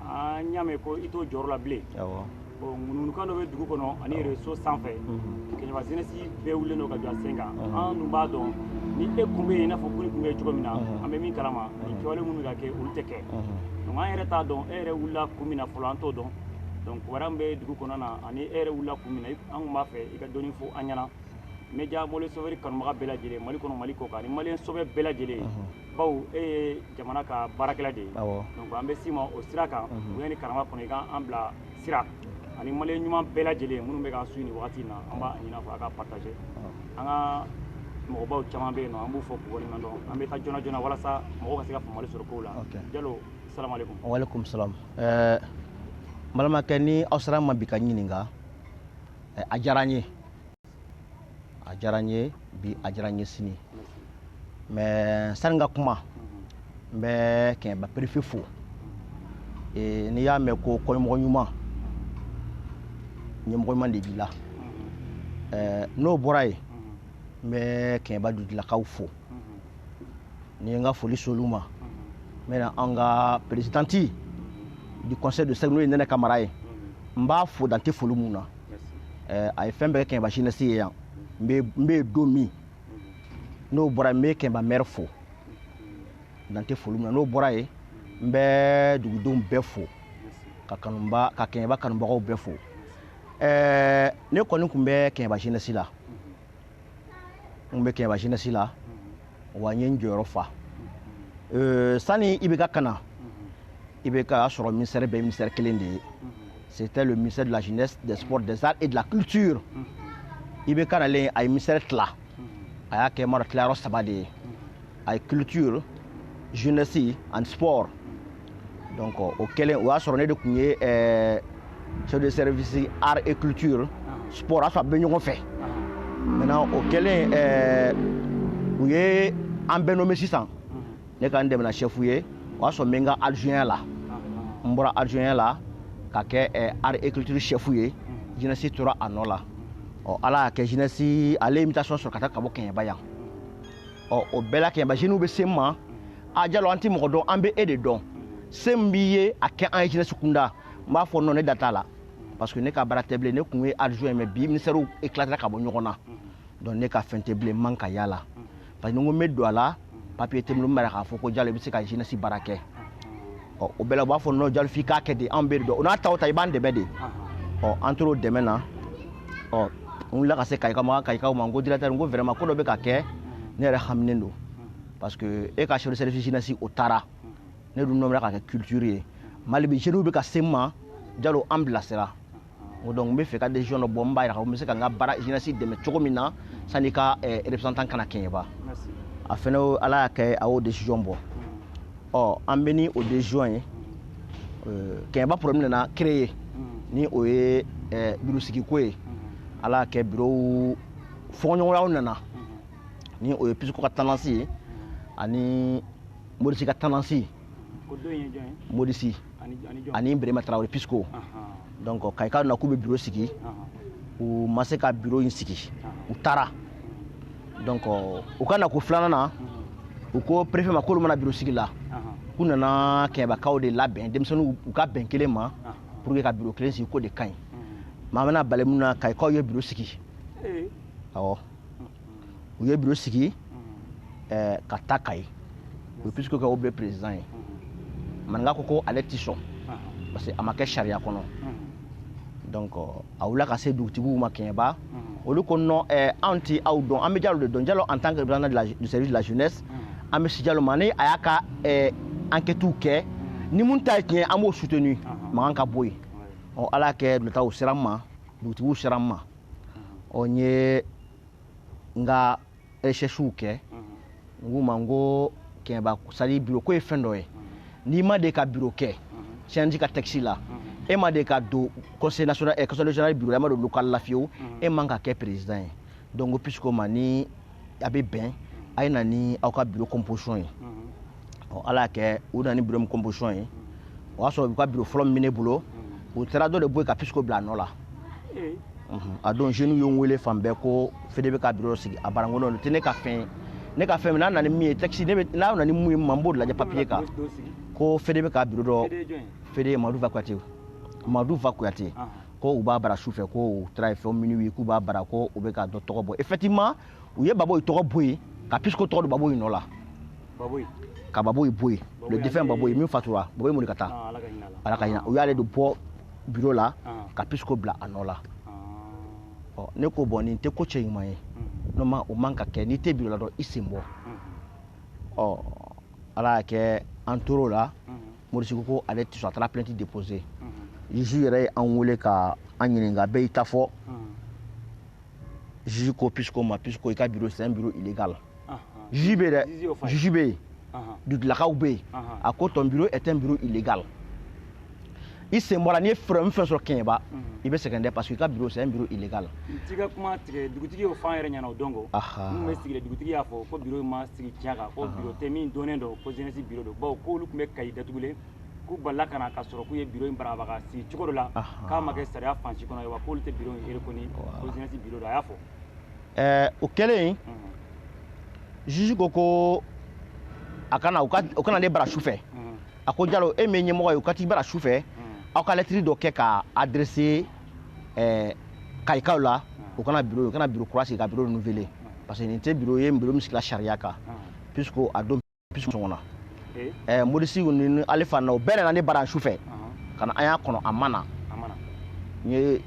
an y'a mɛn ko i t'o jɔyɔrɔ la bilen bon ŋunuŋunukan dɔ bɛ dugu kɔnɔ ani réseau sanfɛ kɛɲɛba zenesi bɛɛ wulilen don ka jɔ a sen kan an dun b'a dɔn ni e kun bɛ yen i n'a fɔ kunu i kun bɛ yen cogo min na an bɛ min kalama nin kɛwale minnu bɛ ka kɛ olu tɛ kɛ donc an yɛrɛ t'a dɔn e yɛrɛ wulila kun min na fɔlɔ an t'o dɔn donc kibaruya min bɛ dugu kɔnɔna ani e yɛrɛ wulila kun min na an tun b'a fɛ i ka dɔɔni fɔ an ɲɛna media mole sofɛri kanubaga bɛɛ lajɛlen mali kɔnɔ mali kɔkan ani maliyɛn sɔbɛ bɛɛ lajɛlen bawo e ye jamana ka baarakɛla de ye donc an bɛ s'i ma o sira kan mhm. bonya ni karama kɔnɔ i ka an bila sira ani maliyɛn ɲuman bɛɛ lajɛlen minnu bɛ k'an suivi nin wagati in na an b'a ɲini a fɛ a ka partager an ka mɔgɔbaw caman bɛ yen nɔ an b'u fo k'u waleɲuman dɔn an bɛ taa joona joona walasa mɔgɔw ka se ka faamuyali sɔrɔ kow la jalo salamaleykum walekum salam ɛɛ eh, n balimakɛ ni aw sera n ma bi ka n ɲininka eh, a diyara n ye a diyara n ye bi a diyara n ye sini mais sani n ka kuma n bɛ kɛɲɛba perefe fo e, n'i y'a mɛn ko kɔmɔgɔ ɲuman ɲɛmɔgɔ ɲuman de b'i la n'o bɔra yen n bɛ kɛɲɛba dugutigilakaw fo ni n ka foli s'olu ma n bɛ na an ka perezidanti du conseil de cercle n'o ye nɛnɛ kamara ye n b'a fo dan tɛ foli min na eh, a ye fɛn bɛɛ kɛ kɛɲɛba jinɛsi ye yan n bɛ don min n'o bɔra yen n bɛ kɛɲɛba mɛri fo dan tɛ foli min na n'o bɔra yen n bɛ dugudenw bɛɛ fo ka kanuba ka kɛɲɛba kanubagaw bɛɛ fo ɛɛ ne kɔni tun bɛ kɛɲɛba jinɛsi la n bɛ kɛɲɛba jinɛsi la wa n ye n jɔyɔrɔ fa sani ibk ka na ibk y'a sɔrɔ ministɛri bɛɛ ministɛri kelen de ye c'était le ministère de la jeunesse des sports des arts et de la culture ibk nalen a ye ministɛri tila a y'a kɛ mara tilayɔrɔ saba de ye a ye culture jeunesse ani sport donc o kɛlen o y'a sɔrɔ ne de tun ye eh, chef de service art et culture sport a y'a sɔrɔ a bɛ ɲɔgɔn fɛ maintenant o kɛlen eh, u ye an bɛɛ nommé sisan ne ka n dɛmɛna chef ye o y'a sɔrɔ n bɛ n ka adjoint la n bɔra adjoint la ka kɛ eh, art et culture chef ye jeunesse tora a nɔ la ɔ ala y'a kɛ jeunesse ale ye mutation sɔrɔ ka taa ka bɔ kɛɲɛba yan ɔ o bɛɛ la kɛɲɛba zeniw bɛ se n ma a jalo an tɛ mɔgɔ dɔn an bɛ e de dɔn se min b'i ye a kɛ an ye jinɛsi kunda n b'a fɔ non ne da t'a la parce que ne ka baara tɛ bilen ne tun ye adjoint mais bi ministɛriw éclatera ka bɔ ɲɔgɔn na donc ne ka fɛn tɛ bilen man ka y'a la parce que ni n ko n bɛ don a la papiye tɛ n bolo min bɛ k'a fɔ ko jalo i bɛ se ka jinɛsi baara kɛ ɔ o bɛɛ la u b'a fɔ non jalo f'i k'a kɛ de anw b'e de dɔn o n'a ta o ta i b'an dɛmɛ de ɔ an tor'u dɛmɛ na ɔ n wulila ka se kayikaw ma kayikaw ma n ko directeur n ko vraiment ko dɔ bɛ ka kɛ ne yɛrɛ haminen don parce que e ka chef de service jeunesse o taara ne dun nɔmera ka kɛ culture ye mais hali bi jeunes bɛ ka se n ma jalo an bilasira o donc n b'a fɛ i ka decision dɔ bɔ n b'a yira n bɛ se ka n ka baara jeunesse dɛmɛ cogo min na sani i ka eh, représentant ka na kɛɲɛba a fɛnɛ ala y'a kɛ a y'o decision bɔ ɔ an bɛ ni o decision ye eh, kɛɲɛba problème nana créer mm. ni o ye eh, biro sigiko ye mm-hmm. ala y'a kɛ birow fɔɲɔgɔnyaw nana mm-hmm. ni o ye pisiko ka tendance ye mm-hmm. ani morisi ka tendance ye modisi ani berema tarawele pisco donc kayikaw nana k'u bɛ biro sigi u ma se ka biro in sigi u taara donc u ka nako filanan na u ko perefe ma k'olu ma na biro sigi la k'u nana kɛɲɛbakaw de labɛn denmisɛnninw u ka bɛn kelen ma pour que ka biro kelen sigi k'o de ka ɲi maa bɛna bali mun na kayikaw ye biro sigi awɔ u ye biro sigi eh, ka taa kayi u ye pisiko kɛ président ye maninka ko ko ale tɛ sɔn parce que a ma kɛ sariya kɔnɔ donc a wulila ka se dugutigiw ma kɛɲɛba olu ko non eh, anw tɛ aw dɔn an bɛ jalo de dɔn jalo en tant que président de la, du service de la jeunesse an bɛ se jalo ma ni a y'a ka eh, enquêtes kɛ ni min ta ye tiɲɛ an b'o soutenu mankan ka bɔ yen ɔ ala y'a kɛ dugutigiw sera n ma dugutigiw sera n ma ɔ n ye n ka recherchew kɛ n k'u ma n ko kɛɲɛba c'est-à-dire biro ko ye fɛn dɔ ye n'i ma deli ka biro kɛ cnj ka tɛkisi la e ma deli ka don conseil national eh, conseil régional biro la e ma don local la fiyewu e man ka kɛ président ye donc ko pisiko ma ni a bɛ bɛn a ye na ni aw ka bureau composition ye ɔ ala y'a kɛ u nana ni bureau composition ye o y'a sɔrɔ u ka bureau fɔlɔ min bɛ ne bolo u taara dɔ de bɔ yen ka pisiko bila a nɔ la a don jeunes ye n wele fan bɛɛ ko fede bɛ ka bureau sigi a barankolon don tɛ ne ka fɛn ye ne ka fɛn min n'a nana ni min ye tɛkisi ne bɛ n'a nana ni min ye ma n b'o lajɛ papier kan ko fede bɛ ka bureau dɔ fede madu va kuyate madu va kuyate ko u b'a baara su fɛ ko u taara ye fɛn minnu ye k'u b'a baara ko u bɛ ka dɔ tɔgɔ bɔ effectivement u ye baboyi tɔgɔ bɔ yen ka pisiko tɔgɔ don baboyi nɔ la ka baboyi bɔ yen le défunt baboyi min fatura baboyi mori ka taa ah, ala ka hina u y'ale de bɔ biro la ah. ka pisiko bila a nɔ la ah. ɔ ne ko bon nin tɛ ko cɛɲuman ye mm-hmm. n'o ma o man ka kɛ n'i tɛ biro la dɔrɔn i sen bɔ mm-hmm. ɔ ala y'a kɛ an tor'o la morisiku ko ale tɛ sɔn a taara plainte déposé juge yɛrɛ ye an wele ka an ɲininka bɛɛ y'i ta fɔ juge ko pisiko ma pisiko i ka biro c'est un bureau illégal juge bɛ dɛ juge bɛ yen dugutigilakaw bɛ yen a ko ton bureau est un bureau illégal i sen bɔ a la n'i ye fɛɛrɛ fɛn sɔrɔ kɛɲɛba i bɛ sɛgɛn dɛ parce que i ka biro c'est un bureau illégal n t'i ka kuma tigɛ dugutigi y'o fɔ an yɛrɛ ɲɛna o don ko minnu bɛ sigi dugutigi y'a fɔ ko biro ma sigi tiɲɛ kan ko biro tɛ min dɔnnen don ko jeunesse biro don bawo k'olu tun bɛ kayi datugulen k'u balila ka na ka sɔrɔ k'u ye biro in barabara ka sigi cogo dɔ la k'a ma kɛ sariya fan si kɔnɔ ayiwa k'olu tɛ biro in reconnu ko jeunesse biro don a y'a fɔ ɛɛ o kɛlen juge ko ko a ka na u ka na ne bara su fɛ a ko jalo e min ye ɲɛmɔgɔ ye u ka t'i bara su fɛ mm. aw ka lɛtiri dɔ kɛ k'a adresser eh, kayikaw la mm. u ka na biro u ka na biro kura sigi ka biro renouveler mm. parce que nin tɛ biro ye biro min sigila sariya kan puisque a don puisque sɔngɔ na eh? eh, modisi nin ale fana o bɛna na ne bara su fɛ uh-huh. ka na an y'a kɔnɔ a ma na n ye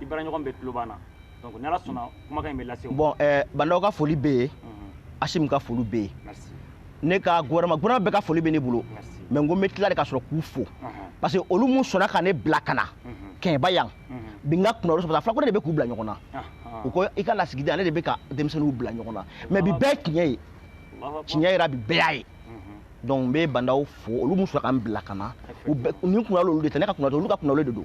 i baaraɲɔgɔn bɛɛ tulo b'an na donc ni ala sɔnna kumakan in bɛ lase bon eh, ba ndaw ka foli bɛ yen asimi ka foli bɛ yen ne ka gouvernement gouvernement bɛɛ ka foli bɛ ne bolo mais n ko n bɛ tila de ka sɔrɔ k'u fo parce que olu mun sɔnna ka ne bila ka na kɛɲɛba yan bi n ka kunnawolo sɔrɔ fɔlɔ ko ale de bɛ k'u bila ɲɔgɔn na u ko i ka lasigiden ale de bɛ ka denmisɛnninw bila ɲɔgɔn na mais bi bɛɛ tiɲɛ ye tiɲɛ yera bi bɛɛ y'a ye donc n bɛ ba ndaw fo olu mun sɔnna ka n bila ka na u bɛɛ ne kunnawolo de tɛ ne ka kunna tɛ olu ka kunnawolo de don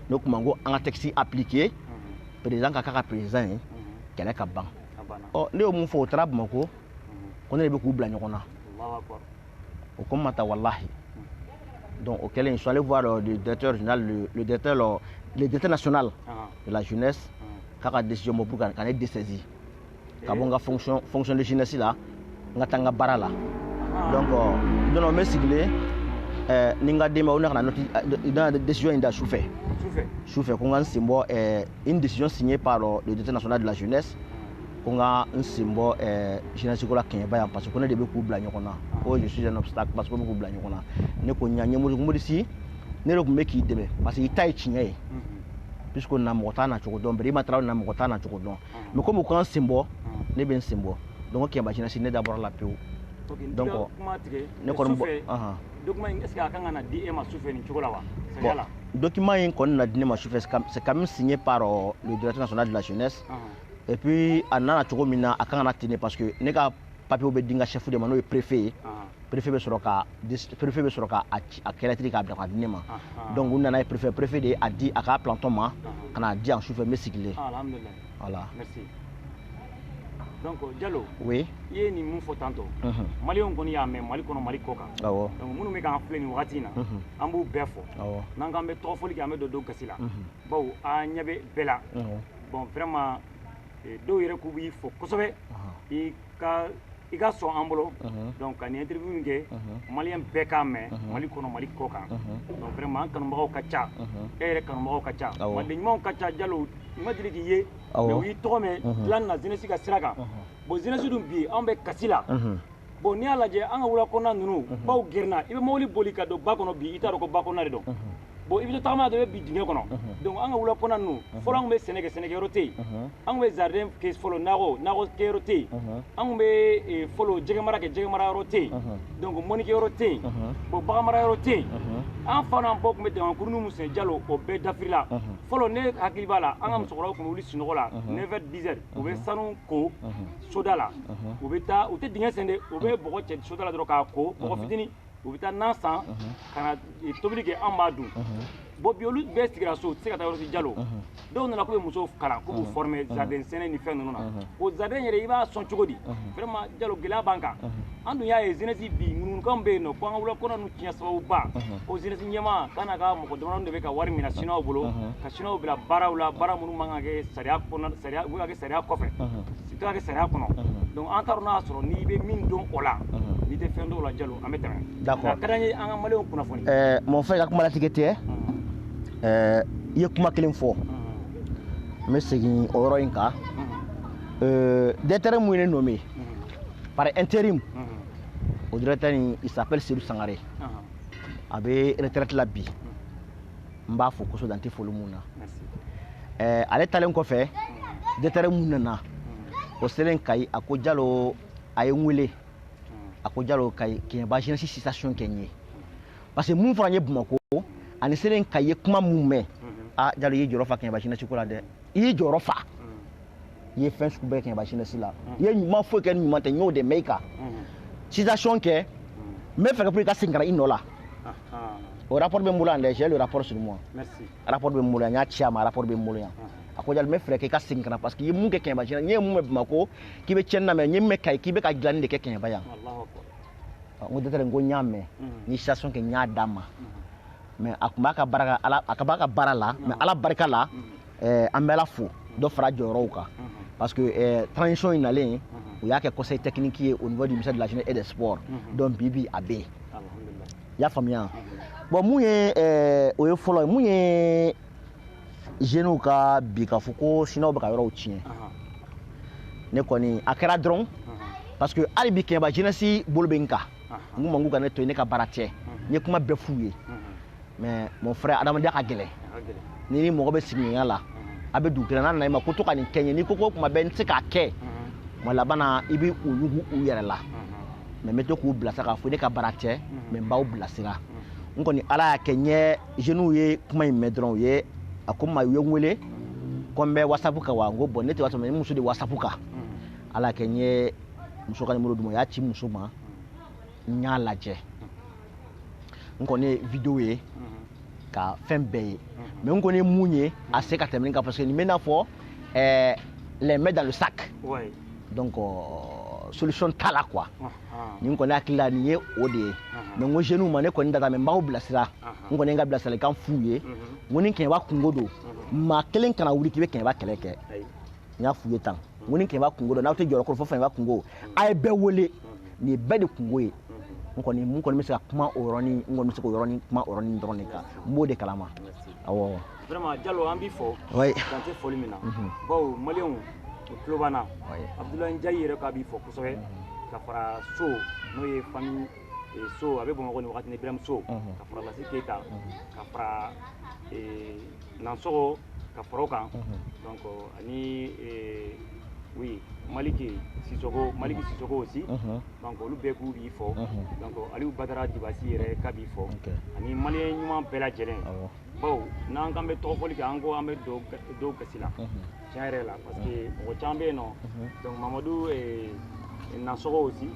o tuma n ko an ka texte appliquer mhm. président ka k'a ka présidentya kɛ le ka ban ɔ ne y'o mun fɔ o taara bamakɔ ko ne de bɛ k'u bila ɲɔgɔn na o ko ma ta walahi donc o kɛlen je suis allé voir euh, le directeur général le, le directeur le, le directeur national ah. de la jeunesse ah. k'a ka décision bɔ pour ka ne dessaisir ka bɔ n ka fonction fonction de jeunesse la n ka taa n ka baara la donc don dɔ n bɛ sigilen ɛɛ ni n ka denbayaw ne ka na nɔti n na décision in da su fɛ su fɛ ko n ka n sen bɔ ɛɛ une décision signée par le directeur national de la jeunesse ko n ka n sen bɔ ɛɛ jeunesse ko la kɛɲɛba yan parce que ko ne de bɛ k'u bila ɲɔgɔn na ko je suis un obstacle parce que ko n bɛ k'u bila ɲɔgɔn na ne ko n y'a ɲɛ mori morisi ne de tun bɛ k'i dɛmɛ parce que i ta ye tiɲɛ ye puisque na mɔgɔ t'a na cogo dɔn bɛrɛ i ma taara na mɔgɔ t'a na cogo dɔn mais comme u ko n ka n sen bɔ ne bɛ n sen bɔ donc kɛɲɛba jeunesse ne da bɔra a la pewu donc ne kɔni bon document in est ce que a kan ka na di e ma sufɛ nin cogo la wa sariya la document in kɔni na di ne ma sufɛ c'est quand même signé par euh, le directeur national de la jeunesse et puis a nana cogo min na a kan ka na ten de parce que ne ka papiyew bɛ di n ka chef de ma n'o ye préfet ye préfet bɛ sɔrɔ ka préfet bɛ sɔrɔ ka a kɛ lɛtɛrɛ k'a bila ka di ne ma donc u nana ye préfet préfet de a di a ka planton ma ka n'a di yan sufɛ n bɛ sigilen alhamdulilahi voilà merci donc jalo oui i ye nin mun fɔ tantôt maliyɛnw kɔni y'a mɛn mali kɔnɔ mali kɔkan awɔ donc minnu bɛ k'an filɛ nin wagati in na an b'u bɛɛ fo awɔ n'an k'an bɛ tɔgɔfɔli kɛ an bɛ don dɔw gasi la bawo an ɲɛ bɛ bɛɛ la bon vraiment dɔw yɛrɛ k'u b'i fo kosɛbɛ i ka i ka sɔn an bolo donc ka nin interview in kɛ maliyɛn bɛɛ k'a mɛn mali kɔnɔ mali kɔkan donc vraiment an kanubagaw ka ca e yɛrɛ kanubagaw ka ca maliden ɲumanw ka ca jalo u ma deli k'i ye mais u y'i tɔgɔ mɛn dilan na jeunesse ka sira kan bon jeunesse dun bi anw bɛ kasi la bon n'i y'a lajɛ an ka wula kɔnɔna ninnu mhm. baw gerenna i bɛ mobili boli ka don ba kɔnɔ bi i t'a dɔn ko ba kɔnɔna de don mhm. bon i bɛ to tagama na dɔrɔn i bɛ bin dingɛ kɔnɔ mhm. donc an ka wula kɔnɔna ninnu fɔlɔ an tun bɛ sɛnɛ kɛ sɛnɛkɛyɔrɔ tɛ yen an tun bɛ jardin kɛ fɔlɔ nakɔ nakɔ kɛyɔrɔ tɛ yen an tun bɛ eh, fɔlɔ jɛgɛmara kɛ jɛgɛmara yɔrɔ tɛ yen donc mɔnikɛyɔrɔ tɛ yen bon baganmara yɔrɔ tɛ yen an fa n'an baw tun bɛ damankurunin min sen jalo o bɛɛ dafirila fɔlɔ ne hakili b'a la an ka musokɔrɔbaw tun bɛ wuli sunɔgɔ la 9 heures 10 heures u bɛ sanu ko soda la u bɛ taa u tɛ dingɛ sen de u bɛ bɔgɔ cɛ soda la dɔrɔn k'a ko bɔgɔ fitinin u bɛ taa nan san ka na tobili kɛ an b'a dun bon bi olu bɛɛ sigira so u tɛ se ka taa yɔrɔ si jalo dɔw nana k'u bɛ musow kalan k'u b'u former jardin sɛnɛ ni fɛn ninnu na o jardin yɛrɛ i b'a sɔn cogo di vraiment jalo gɛlɛya b'an kan an dun y'a ye jeunesse bi ŋunuŋunukan bɛ yen nɔ ko an ka wula kɔnɔ nu tiɲɛ sababuba ko jeunesse ɲɛmaa ka n'a ka mɔgɔ damadɔ de bɛ ka wari minɛ siniwaw bolo ka siniwaw bila baaraw la baara minnu man ka kɛ sariya kɔnɔ sariya u bɛ ka kɛ sariya kɔfɛ u tɛ ka kɛ sariya kɔnɔ donc an t'a dɔn n'a y'a sɔrɔ n'i bɛ min dɔn o la n'i tɛ fɛn dɔn o la jalo an bɛ tɛmɛ d'accord a ka d'an ye an ka maliyɛnw kunnafoni ɛɛ mɔgɔ fɛ ka kuma latigɛ tɛ ɛɛ i ye kuma kelen fɔ n bɛ segin o yɔrɔ in kan ɛɛ directeur mun ye ne nommé par intérim o directeur in il s'appelle Seydou Sangare a bɛ retraite la bi n b'a fo kosɛbɛ dan tɛ foli mun na ɛɛ ale talen kɔfɛ directeur mun nana o selen Kayi a ko Jalo a ye n wele a ko Jalo Kayi Keɲɛba jeunesse situation kɛ n ye parce que mun fɔra n ye Bamakɔ ani n selen Kayi n ye kuma mun mɛn aa Jalo i y'i jɔyɔrɔ fa Keɲɛba jeunesse ko la dɛ i y'i jɔyɔrɔ fa. i ye fɛn sugu bɛɛ kɛ kɛɲɛba jeunesse la i ye i ma foyi kɛ ni ɲuman tɛ n y'o de mɛn i kan situation kɛ n bɛ fɛɛrɛ kɛ pour i ka segin ka na i nɔ la o rapport bɛ n bolo yan dɛ j'ai le rapport sur moi rapport bɛ n bolo yan n y'a ci a ma rapport bɛ n bolo yan a ko jalo n bɛ fɛɛrɛ kɛ i ka segin ka na parce que i ye mun kɛ kɛɲɛba sinon n ye mun mɛn bamakɔ k'i bɛ tiɲɛni na mais n ye mun mɛn kayi k'i bɛ ka dilanni de kɛ kɛɲɛba yan n ko directeur n ko n y'a mɛn n ye situation kɛ n y'a d'a ma mais a tun b'a ka baara ka ala a ka b'a ka baara la mais ala barika la eh, an bɛla fo dɔ fara jɔyɔrɔw kan parce que eh, transition in nalen u y'a kɛ conseil technique ye au niveau du ministère de la jeunesse et des sports donc bi bi a bɛ yen i y'a faamuya bon mun ye eh, o ye fɔlɔ ye mun ye jeunew ka bi k'a fɔ ko sinuwaw bɛ ka yɔrɔw tiɲɛ ne kɔni a kɛra dɔrɔn parce que hali bi kɛɲɛba jeunesse bolo bɛ n kan n k'u ma k'u ka ne to yen ne ka baara tiɲɛ n ye kuma bɛɛ f'u ye mais mon frère adamadenya ka gɛlɛn ni ni mɔgɔ bɛ sigiɲɔgɔnya la a bɛ dugu kelen n'a nana i ma ko to ka nin kɛ n ye n'i ko ko tuma bɛɛ n tɛ se k'a kɛ tuma laban na i bɛ u yugu u yɛrɛ la mais n bɛ to k'u bilasira k'a fɔ ne ka baara tɛ mais n b'aw bilasira n kɔni ala y'a kɛ n ye jeunes ye kuma in mɛn dɔrɔn u ye a ko ma u ye n wele ko n bɛ wasapu kan wa n ko bon ne tɛ wasapu ne muso de wasapu kan ala y'a kɛ n ye muso ka nimoro d'u ma u y'a ci muso ma n y'a lajɛ n kɔni ye video ye ka fɛn bɛɛ ye mais n kɔni ye min ye a se ka tɛmɛ nin kan parce que nin bɛ i n'a fɔ eh, les mains dans le sac Ouais. donc euh, solution t'a la quoi Ah, ah. ne kɔni hakili la nin ye o de ye Ahan. mais n ko jeunes ma ne kɔni tɛ taa mais n b'aw bilasira Ahan. n kɔni ye n ka bilasiralikan f'u ye Mhm. n ko ni kɛɲɛba kunko don maa kelen kana wuli k'i bɛ kɛɲɛba kɛlɛ kɛ Ayi. n y'a f'u ye tan n ko ni kɛɲɛba kunko don aw tɛ jɔyɔrɔ kɔrɔ fo fɛnba kunko a ye bɛɛ wele nin ye bɛɛ de kunko ye n kɔni mun kɔni bɛ se ka kuma o yɔrɔnin n kɔni bɛ se k'o yɔrɔnin kuma o yɔrɔnin dɔrɔn de kan n b'o de kalama awɔ. vraiment jalo an b'i fo. oui dan tɛ foli min na. Mhm. bawo maliyɛnw u tulo b'an na. oui abudulayi njayi yɛrɛ k'a b'i fo kosɛbɛ mhm. ka fara so n'o ye famille eh, so a bɛ bamakɔ nin wagati ni biramu so mhm. ka fara lasi keyita ka fara. Eh, nansogo ka fara o kan donc ani oui maliki sisoko maliki sisoko aussi donc olu bɛɛ k'u b'i fo donc aliou badara dibasi yɛrɛ k'a b'i fo ani maliyɛn ɲuman bɛɛ lajɛlen bawo n'an k'an bɛ tɔgɔfɔli kɛ an ko an bɛ don gasi la tiɲɛ yɛrɛ la parce que mɔgɔ caman bɛ yen nɔ donc mamadu nansɔgɔ aussi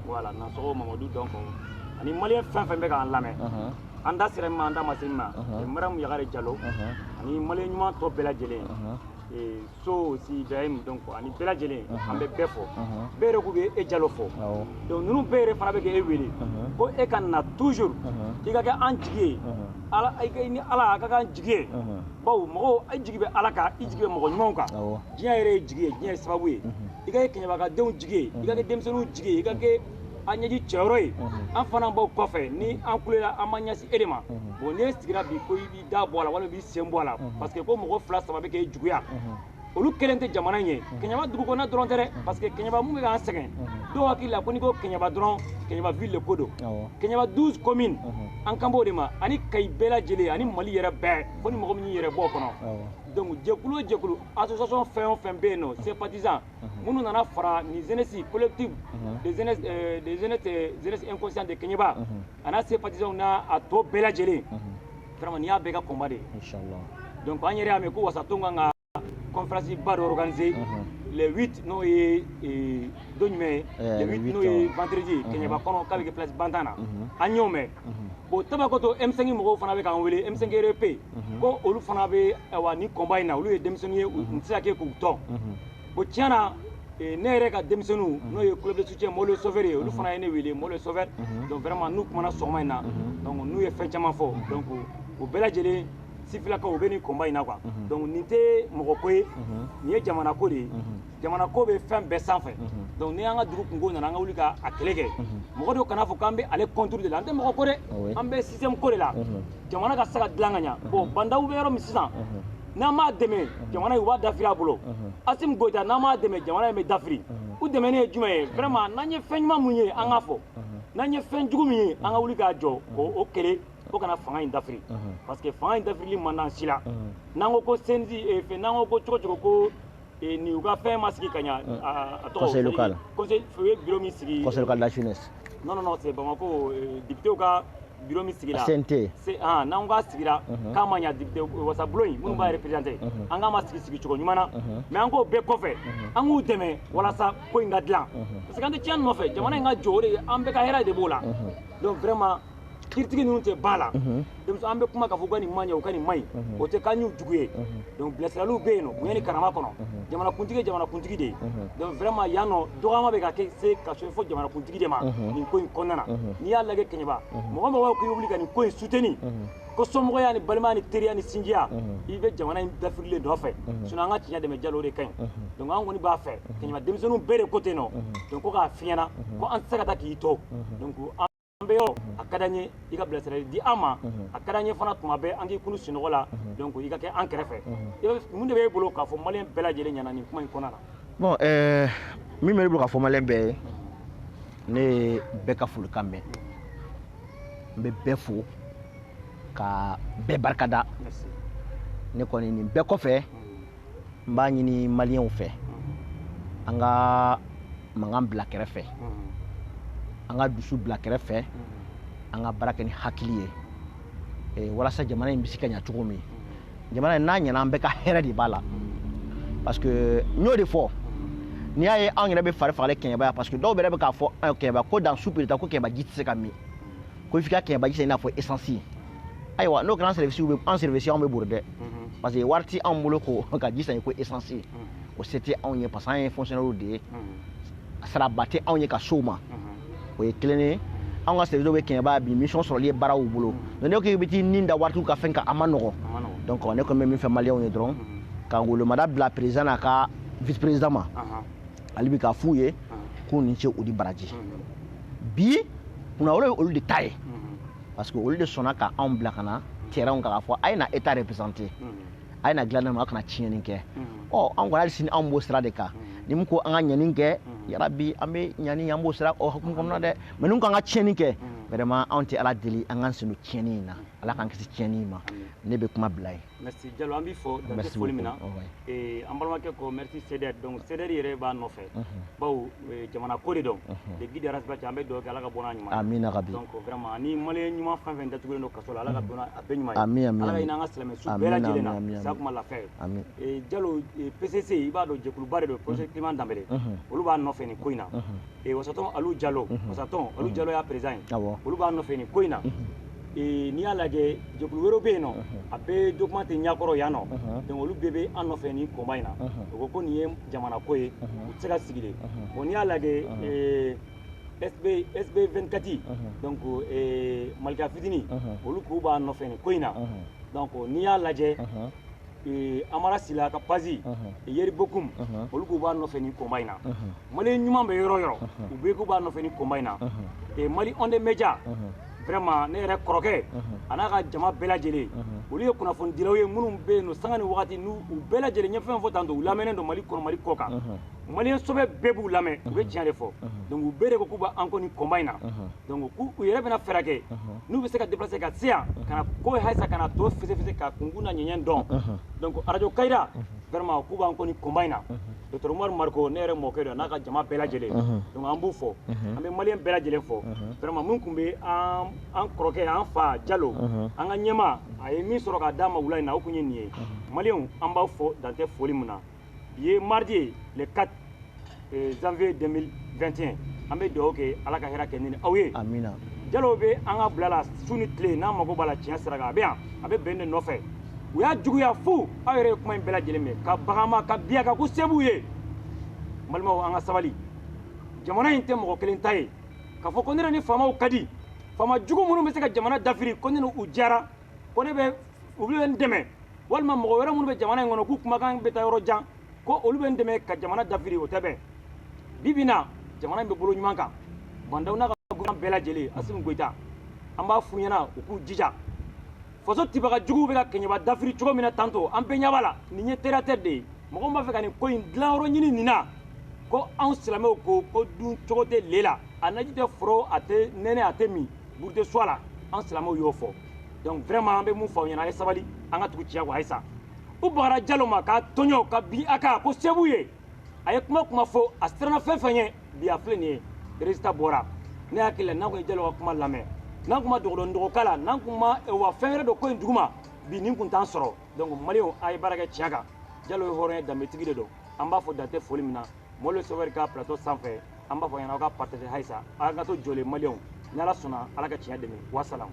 voilà nansɔgɔ mamadu donc ani maliyɛn fɛn fɛn bɛ k'an lamɛn an da sera min ma an da ma se min ma madamu yagare jalo ani maliyɛn ɲuman tɔ bɛɛ lajɛlen so aussi ibrahim donc ani bɛɛ lajɛlen an bɛ bɛɛ fo bɛɛ yɛrɛ k'u bɛ e jalo fo donc ninnu bɛɛ yɛrɛ fana bɛ ka e wele ko e ka na toujours i ka kɛ an jigi ye ala ni ala a ka k'an jigi ye bawo mɔgɔ i jigi bɛ ala kan i jigi bɛ mɔgɔ ɲumanw kan diɲɛ yɛrɛ ye jigi ye diɲɛ ye sababu ye i ka kɛ kɛɲɛba ka denw jigi ye i ka kɛ denmisɛnninw jigi ye i ka kɛ an ɲɛji cɛyɔrɔ ye an fana b'aw kɔfɛ ni an kulela an b'a ɲɛsin e de ma bon n'e sigira bi ko i b'i da bɔ a la walima i b'i sen bɔ a la parce que ko mɔgɔ fila saba bɛ k'e juguya olu kelen tɛ jamana in ye kɛɲɛba dugu kɔnɔna dɔrɔn tɛ dɛ parce que kɛɲɛba mun bɛ k'an sɛgɛn dɔw hakili la ko n'i ko kɛɲɛba dɔrɔn kɛɲɛba ville de ko don kɛɲɛba 12 commune an kan b'o de ma ani kayi bɛɛ lajɛlen ani mali yɛrɛ bɛɛ fo ni mɔgɔ min y'i yɛrɛ bɔ o kɔnɔ donc jɛkulu o jɛkulu association fɛn o fɛn bɛ yen nɔ sympathisant minnu nana fara nin jeunesse collective des jeunesses inconscients de kɛɲɛba a n'a sympathisantw n'a a tɔ bɛɛ lajɛlen vraiment nin y'a bɛɛ ka combat de ye inchallah donc an yɛrɛ y'a mɛn ko wasaton kan ka conférence ba dɔ organiser le 8 n'o ye don jumɛn ye le 8 n'o ye vendredi ye kɛɲɛba kɔnɔ k'a bɛ kɛ place bantan na an y'o mɛn bon tabakoto M5 mɔgɔw fana bɛ k'an wele M5 RFP ko olu fana bɛ wa nin combat in na olu ye denmisɛnninw ye u tɛ se ka kɛ k'u to bon tiɲɛ na eh, ne yɛrɛ ka denmisɛnninw mhm. n'o ye club de soutien mɔlo sofɛri ye olu mhm. fana ye ne wele mɔlo sofɛri mhm. donc vraiment n'u kumana sɔgɔma in na donc n'u ye fɛn caman fɔ donc o bɛɛ lajɛlen sifilakaw u bɛ nin combat in na quoi donc nin tɛ mɔgɔ ko ye nin ye jamana ko de ye jamana ko bɛ fɛn bɛɛ sanfɛ donc ni an ka dugu kunko nana an ka wuli ka a kɛlɛ kɛ mɔgɔ dɔw kana fɔ k'an bɛ ale contre de la an tɛ mɔgɔ ko dɛ an bɛ système ko de la jamana ka se ka dilan ka ɲa bon bah n'daw bɛ yɔrɔ min sisan n'an m'a dɛmɛ jamana in u b'a dafiri a bolo asim goyita n'an m'a dɛmɛ jamana in bɛ dafiri u dɛmɛni ye jumɛn ye vraiment n'an ye fɛn ɲuman mun ye an k'a fɔ n'an ye fɛn jugu min ye an ka wuli ka jɔ o kɛlɛ o kana fanga in dafiri parce que fanga in dafirili man d'an si la n'an ko ko CNJ fɛn n'an ko ko cogo cogo ko Eh, ni u ka fɛn ma sigi ka ɲa mm. a tɔgɔ conseil local conseil u ye bureau min sigi conseil local de la jeunesse non non non c'est Bamako eh, député ka bureau min sigira CNT ah n'an k'a sigira mhm. k'a ma ɲa député wasabulon in minnu b'a mhm. représenter mhm. an k'a ma sigi sigi cogo ɲuman na mais an k'o bɛɛ kɔfɛ an k'u dɛmɛ walasa ko in ka dilan parce que an tɛ tiɲɛni nɔfɛ jamana in ka jɔ o de an bɛɛ ka hɛrɛ de b'o la donc vraiment critique ninnu tɛ ba la donc an bɛ kuma k'a fɔ u ka nin man ɲi u ka nin man ɲi o tɛ k'an y'u jugu ye donc bilasiraliw bɛ yen nɔ bonya ni karama kɔnɔ jamanakuntigi ye jamanakuntigi de ye donc vraiment yan nɔ dɔgɔyama bɛ ka kɛ se ka se fo jamanakuntigi de ma nin ko in kɔnɔna na n'i y'a lajɛ kɛɲɛba mɔgɔ mɔgɔ k'i wuli ka nin ko in soutenir ko somɔgɔya ni balimaya ni teriya ni sinjiya i bɛ jamana in dafirili nɔfɛ sinon an ka tiɲɛ dɛmɛ jalo de ka ɲi donc an kɔni b'a fɛ kɛɲɛba denmisɛnninw bɛɛ de ko ten nɔ donc ko k'a fiɲɛna ko an tɛ se ka taa k'i to donc an bɛ yɔrɔ a ka d'an ye i ka bilasirali di an ma a ka d'an ye fana tuma bɛɛ an k'i kunun sunɔgɔ la donc i ka kɛ an kɛrɛfɛ mun de b'e bolo k'a fɔ maliyɛn bɛɛ lajɛlen ɲɛna nin kuma in kɔnɔna na bon euh, min bɛ ne bolo k'a fɔ maliyɛn bɛɛ ye ne ye bɛɛ ka folikan mɛn n bɛ bɛɛ fo ka bɛɛ barikada ne kɔni nin bɛɛ kɔfɛ n b'a ɲini maliyɛnw fɛ an ka mankan bila kɛrɛfɛ an ka dusu bila kɛrɛfɛ an ka baara kɛ ni hakili ye eh, walasa jamana in bɛ se ka ɲa cogo min jamana in n'a ɲana an bɛɛ ka hɛrɛ de b'a la parce que n y'o de fɔ n'i y'a ye anw yɛrɛ bɛ fari fagalen kɛɲɛba yan parce que dɔw yɛrɛ bɛ k'a fɔ kɛɲɛba ko dan su pirita ko kɛɲɛba ji tɛ se ka min ko f'i ka kɛɲɛba ji san i n'a fɔ esansi ayiwa n'o kɛra an sɛriwisiw bɛ an sɛriwisi anw bɛ bori dɛ parce que wari tɛ anw bolo ko ka ji san ko essence ye o se tɛ anw ye parce que an ye fonctionnaires de ye saraba tɛ anw ye ka s'o ma o ye kelen ye anw ka sɛriwisiw bɛ kɛɲɛba bi mission sɔrɔli ye baaraw bolo donc n'i ko k'i bɛ t'i ni da waritigiw ka fɛn kan a man nɔgɔn donc ne kɔni bɛ min fɔ maliyɛnw ye dɔrɔn ka ngolomada bila président n'a ka vice président ma ale bi k'a f'u ye k'u ni ce u ni baraji bi kunnawolo ye olu de ta ye parce que olu de sɔnna ka anw bila ka na terrain kan k'a fɔ a ye na état représenter a ye na dilan na a kana tiɲɛni kɛ ɔ anw kɔni hali sini anw b'o sira de kan ni min ko an ka ɲani kɛ yarabi an bɛ ɲani an b'o sira o hukumu kɔnɔna dɛ mɛ n'u k'an ka tiɲɛni kɛ vraiment anw tɛ ala deli an k'an sen don tiɲɛni in na ala k'an kisi tiɲɛni in ma ne bɛ kuma bila yen Merci Jalo an b'i fo dan tɛ foli min na eh, an balimakɛ ko merci CDR donc CDR yɛrɛ b'an nɔfɛ bawo eh, jamana ko de don le guide Ras Bath an bɛ dugawu kɛ Ala k'a bɔ n'a ɲuman ye amina yarabi donc vraiment ni maliyɛn ɲuman fɛn fɛn datugulen don kaso la Ala ka bɔ n'a a bɛɛ ɲuman ye amin amin Ala ka hinɛ an ka silamɛ su bɛɛ lajɛlen na sa kuma lafiya ye amin eh, Jalo PCC i b'a dɔn jɛkuluba de don professeur Clément Danbɛlɛ olu b'an nɔfɛ nin ko in na eh, wasatɔn alu jalo mhm. wasatɔn alu mhm. jalo y'a président ye olu b'an nɔfɛ nin ko in na eh, n'i y'a lajɛ jɛkulu wɛrɛw bɛ yen nɔ a bɛɛ document tɛ ɲakɔrɔ yan nɔ donc olu bɛɛ bɛ an nɔfɛ nin combat in na o ko ko nin ye jamana ko ye u tɛ se ka sigi de bon n'i y'a lajɛ eh, SB, SB 24 uh -huh. donc eh, malika fitini uh -huh. olu k'u b'an nɔfɛ nin ko in na uh -huh. donc n'i y'a lajɛ uh -huh. amara sila ka page yeri bokum olu k'u b'an nɔfɛ nin combat in na maliyɛn ɲuman bɛ yɔrɔ yɔrɔ u bɛɛ k'u b'an nɔfɛ nin combat in na mali onde média vraiment ne yɛrɛ kɔrɔkɛ a n'a ka jama bɛɛ lajɛlen olu ye kunnafonidilaw ye minnu bɛ yen nɔ sanga ni wagati n'u bɛɛ lajɛlen ye fɛn fɔ tan u lamɛnnen don mali kɔnɔ mali kɔkan maliyɛn sɔbɛ bɛɛ b'u lamɛn u bɛ tiɲɛ de fɔ donc u bɛɛ de ko k'u bɛ an kɔ nin combat in na donc k'u u yɛrɛ bɛna fɛɛrɛ kɛ n'u bɛ se ka déplacer ka se yan ka na ko halisa ka na tɔ fɛsɛfɛsɛ k'a kunkun n'a ɲɛɲɛ dɔn donc arajo kayira vraiment k'u b'an kɔ nin combat in na docteur umaru mariko ne yɛrɛ mɔkɛ don n'a ka jama bɛɛ lajɛlen donc an b'u fo an bɛ maliyɛn bɛɛ lajɛlen fo vraiment min tun bɛ an an kɔrɔkɛ an fa jalo an ka ɲɛmaa a ye min sɔrɔ k'a d'a ma wula in na o tun ye nin ye maliyɛnw an b'aw fo dan tɛ foli min na bi ye mardi ye le 4 euh, janvier 2021 an bɛ dugawu kɛ ala ka hɛrɛ kɛ ne n'aw ye amina jalo bɛ an ka bila la su ni tile n'an mago b'a la tiɲɛ sira kan a bɛ yan a bɛ bɛn de nɔfɛ u y'a juguya fɔ aw yɛrɛ ye kuma in bɛɛ lajɛlen mɛn ka baga a ma ka bin a kan ko se b'u ye n balimaw an ka sabali jamana in tɛ mɔgɔ kelen ta ye k'a fɔ ko ne ni faamaw ka di faama jugu minnu bɛ se ka jamana dafiri ko ne n'u jara ko ne bɛ u bɛ n dɛmɛ walima mɔgɔ wɛrɛ minnu bɛ jamana in kɔnɔ k'u kumakan bɛ taa yɔrɔ jan ko olu bɛ n dɛmɛ ka jamana dafiri o tɛ bɛn bi bi in na jamana in bɛ bolo ɲuman kan ba ndaw n'a ka gouvernement bɛɛ lajɛlen asimi goyita an b'a f'u ɲɛna u k'u jija faso tibaga juguw bɛ ka kɛɲɛba dafiri cogo min na tantôt an bɛɛ ɲɛ b'a la nin ye teratɛ de ye mɔgɔ min b'a fɛ ka nin ko in dilanyɔrɔ ɲini nin na ko anw silamɛw ko ko dun cogo tɛ lɛ la a naji tɛ foron a tɛ nɛnɛ a tɛ min buru tɛ su a la an silamɛw y'o fɔ donc vraiment an bɛ mun fɔ aw ɲɛna a ye sabali an ka tugu tiɲɛ kɔ halisa u bagara jalo ma k'a tɔɲɔ ka bin a kan ko se b'u ye a ye kuma kuma fɔ a siranna fɛn fɛn ɲɛ bi a filɛ nin ye résultat bɔra ne hakili la n'an kun ye jalo ka kuma lamɛn n'an kun ma dogodɔn dɔgɔka la n'an kun ma wa fɛn wɛrɛ dɔ ko in duguma bi nin kun t'an sɔrɔ donc maliyɛnw a ye baara kɛ tiɲɛ kan jalo ye hɔrɔn ye danbetigi de don an b'a fɔ dantɛ foli min na mɔlo sɛwɛri ka plateau sanfɛ an b'a f'aw ɲɛna aw k'a partager halisa an ka to jɔlen maliyɛnw ni ala sɔnna ala ka tiɲɛ dɛmɛ wasalamu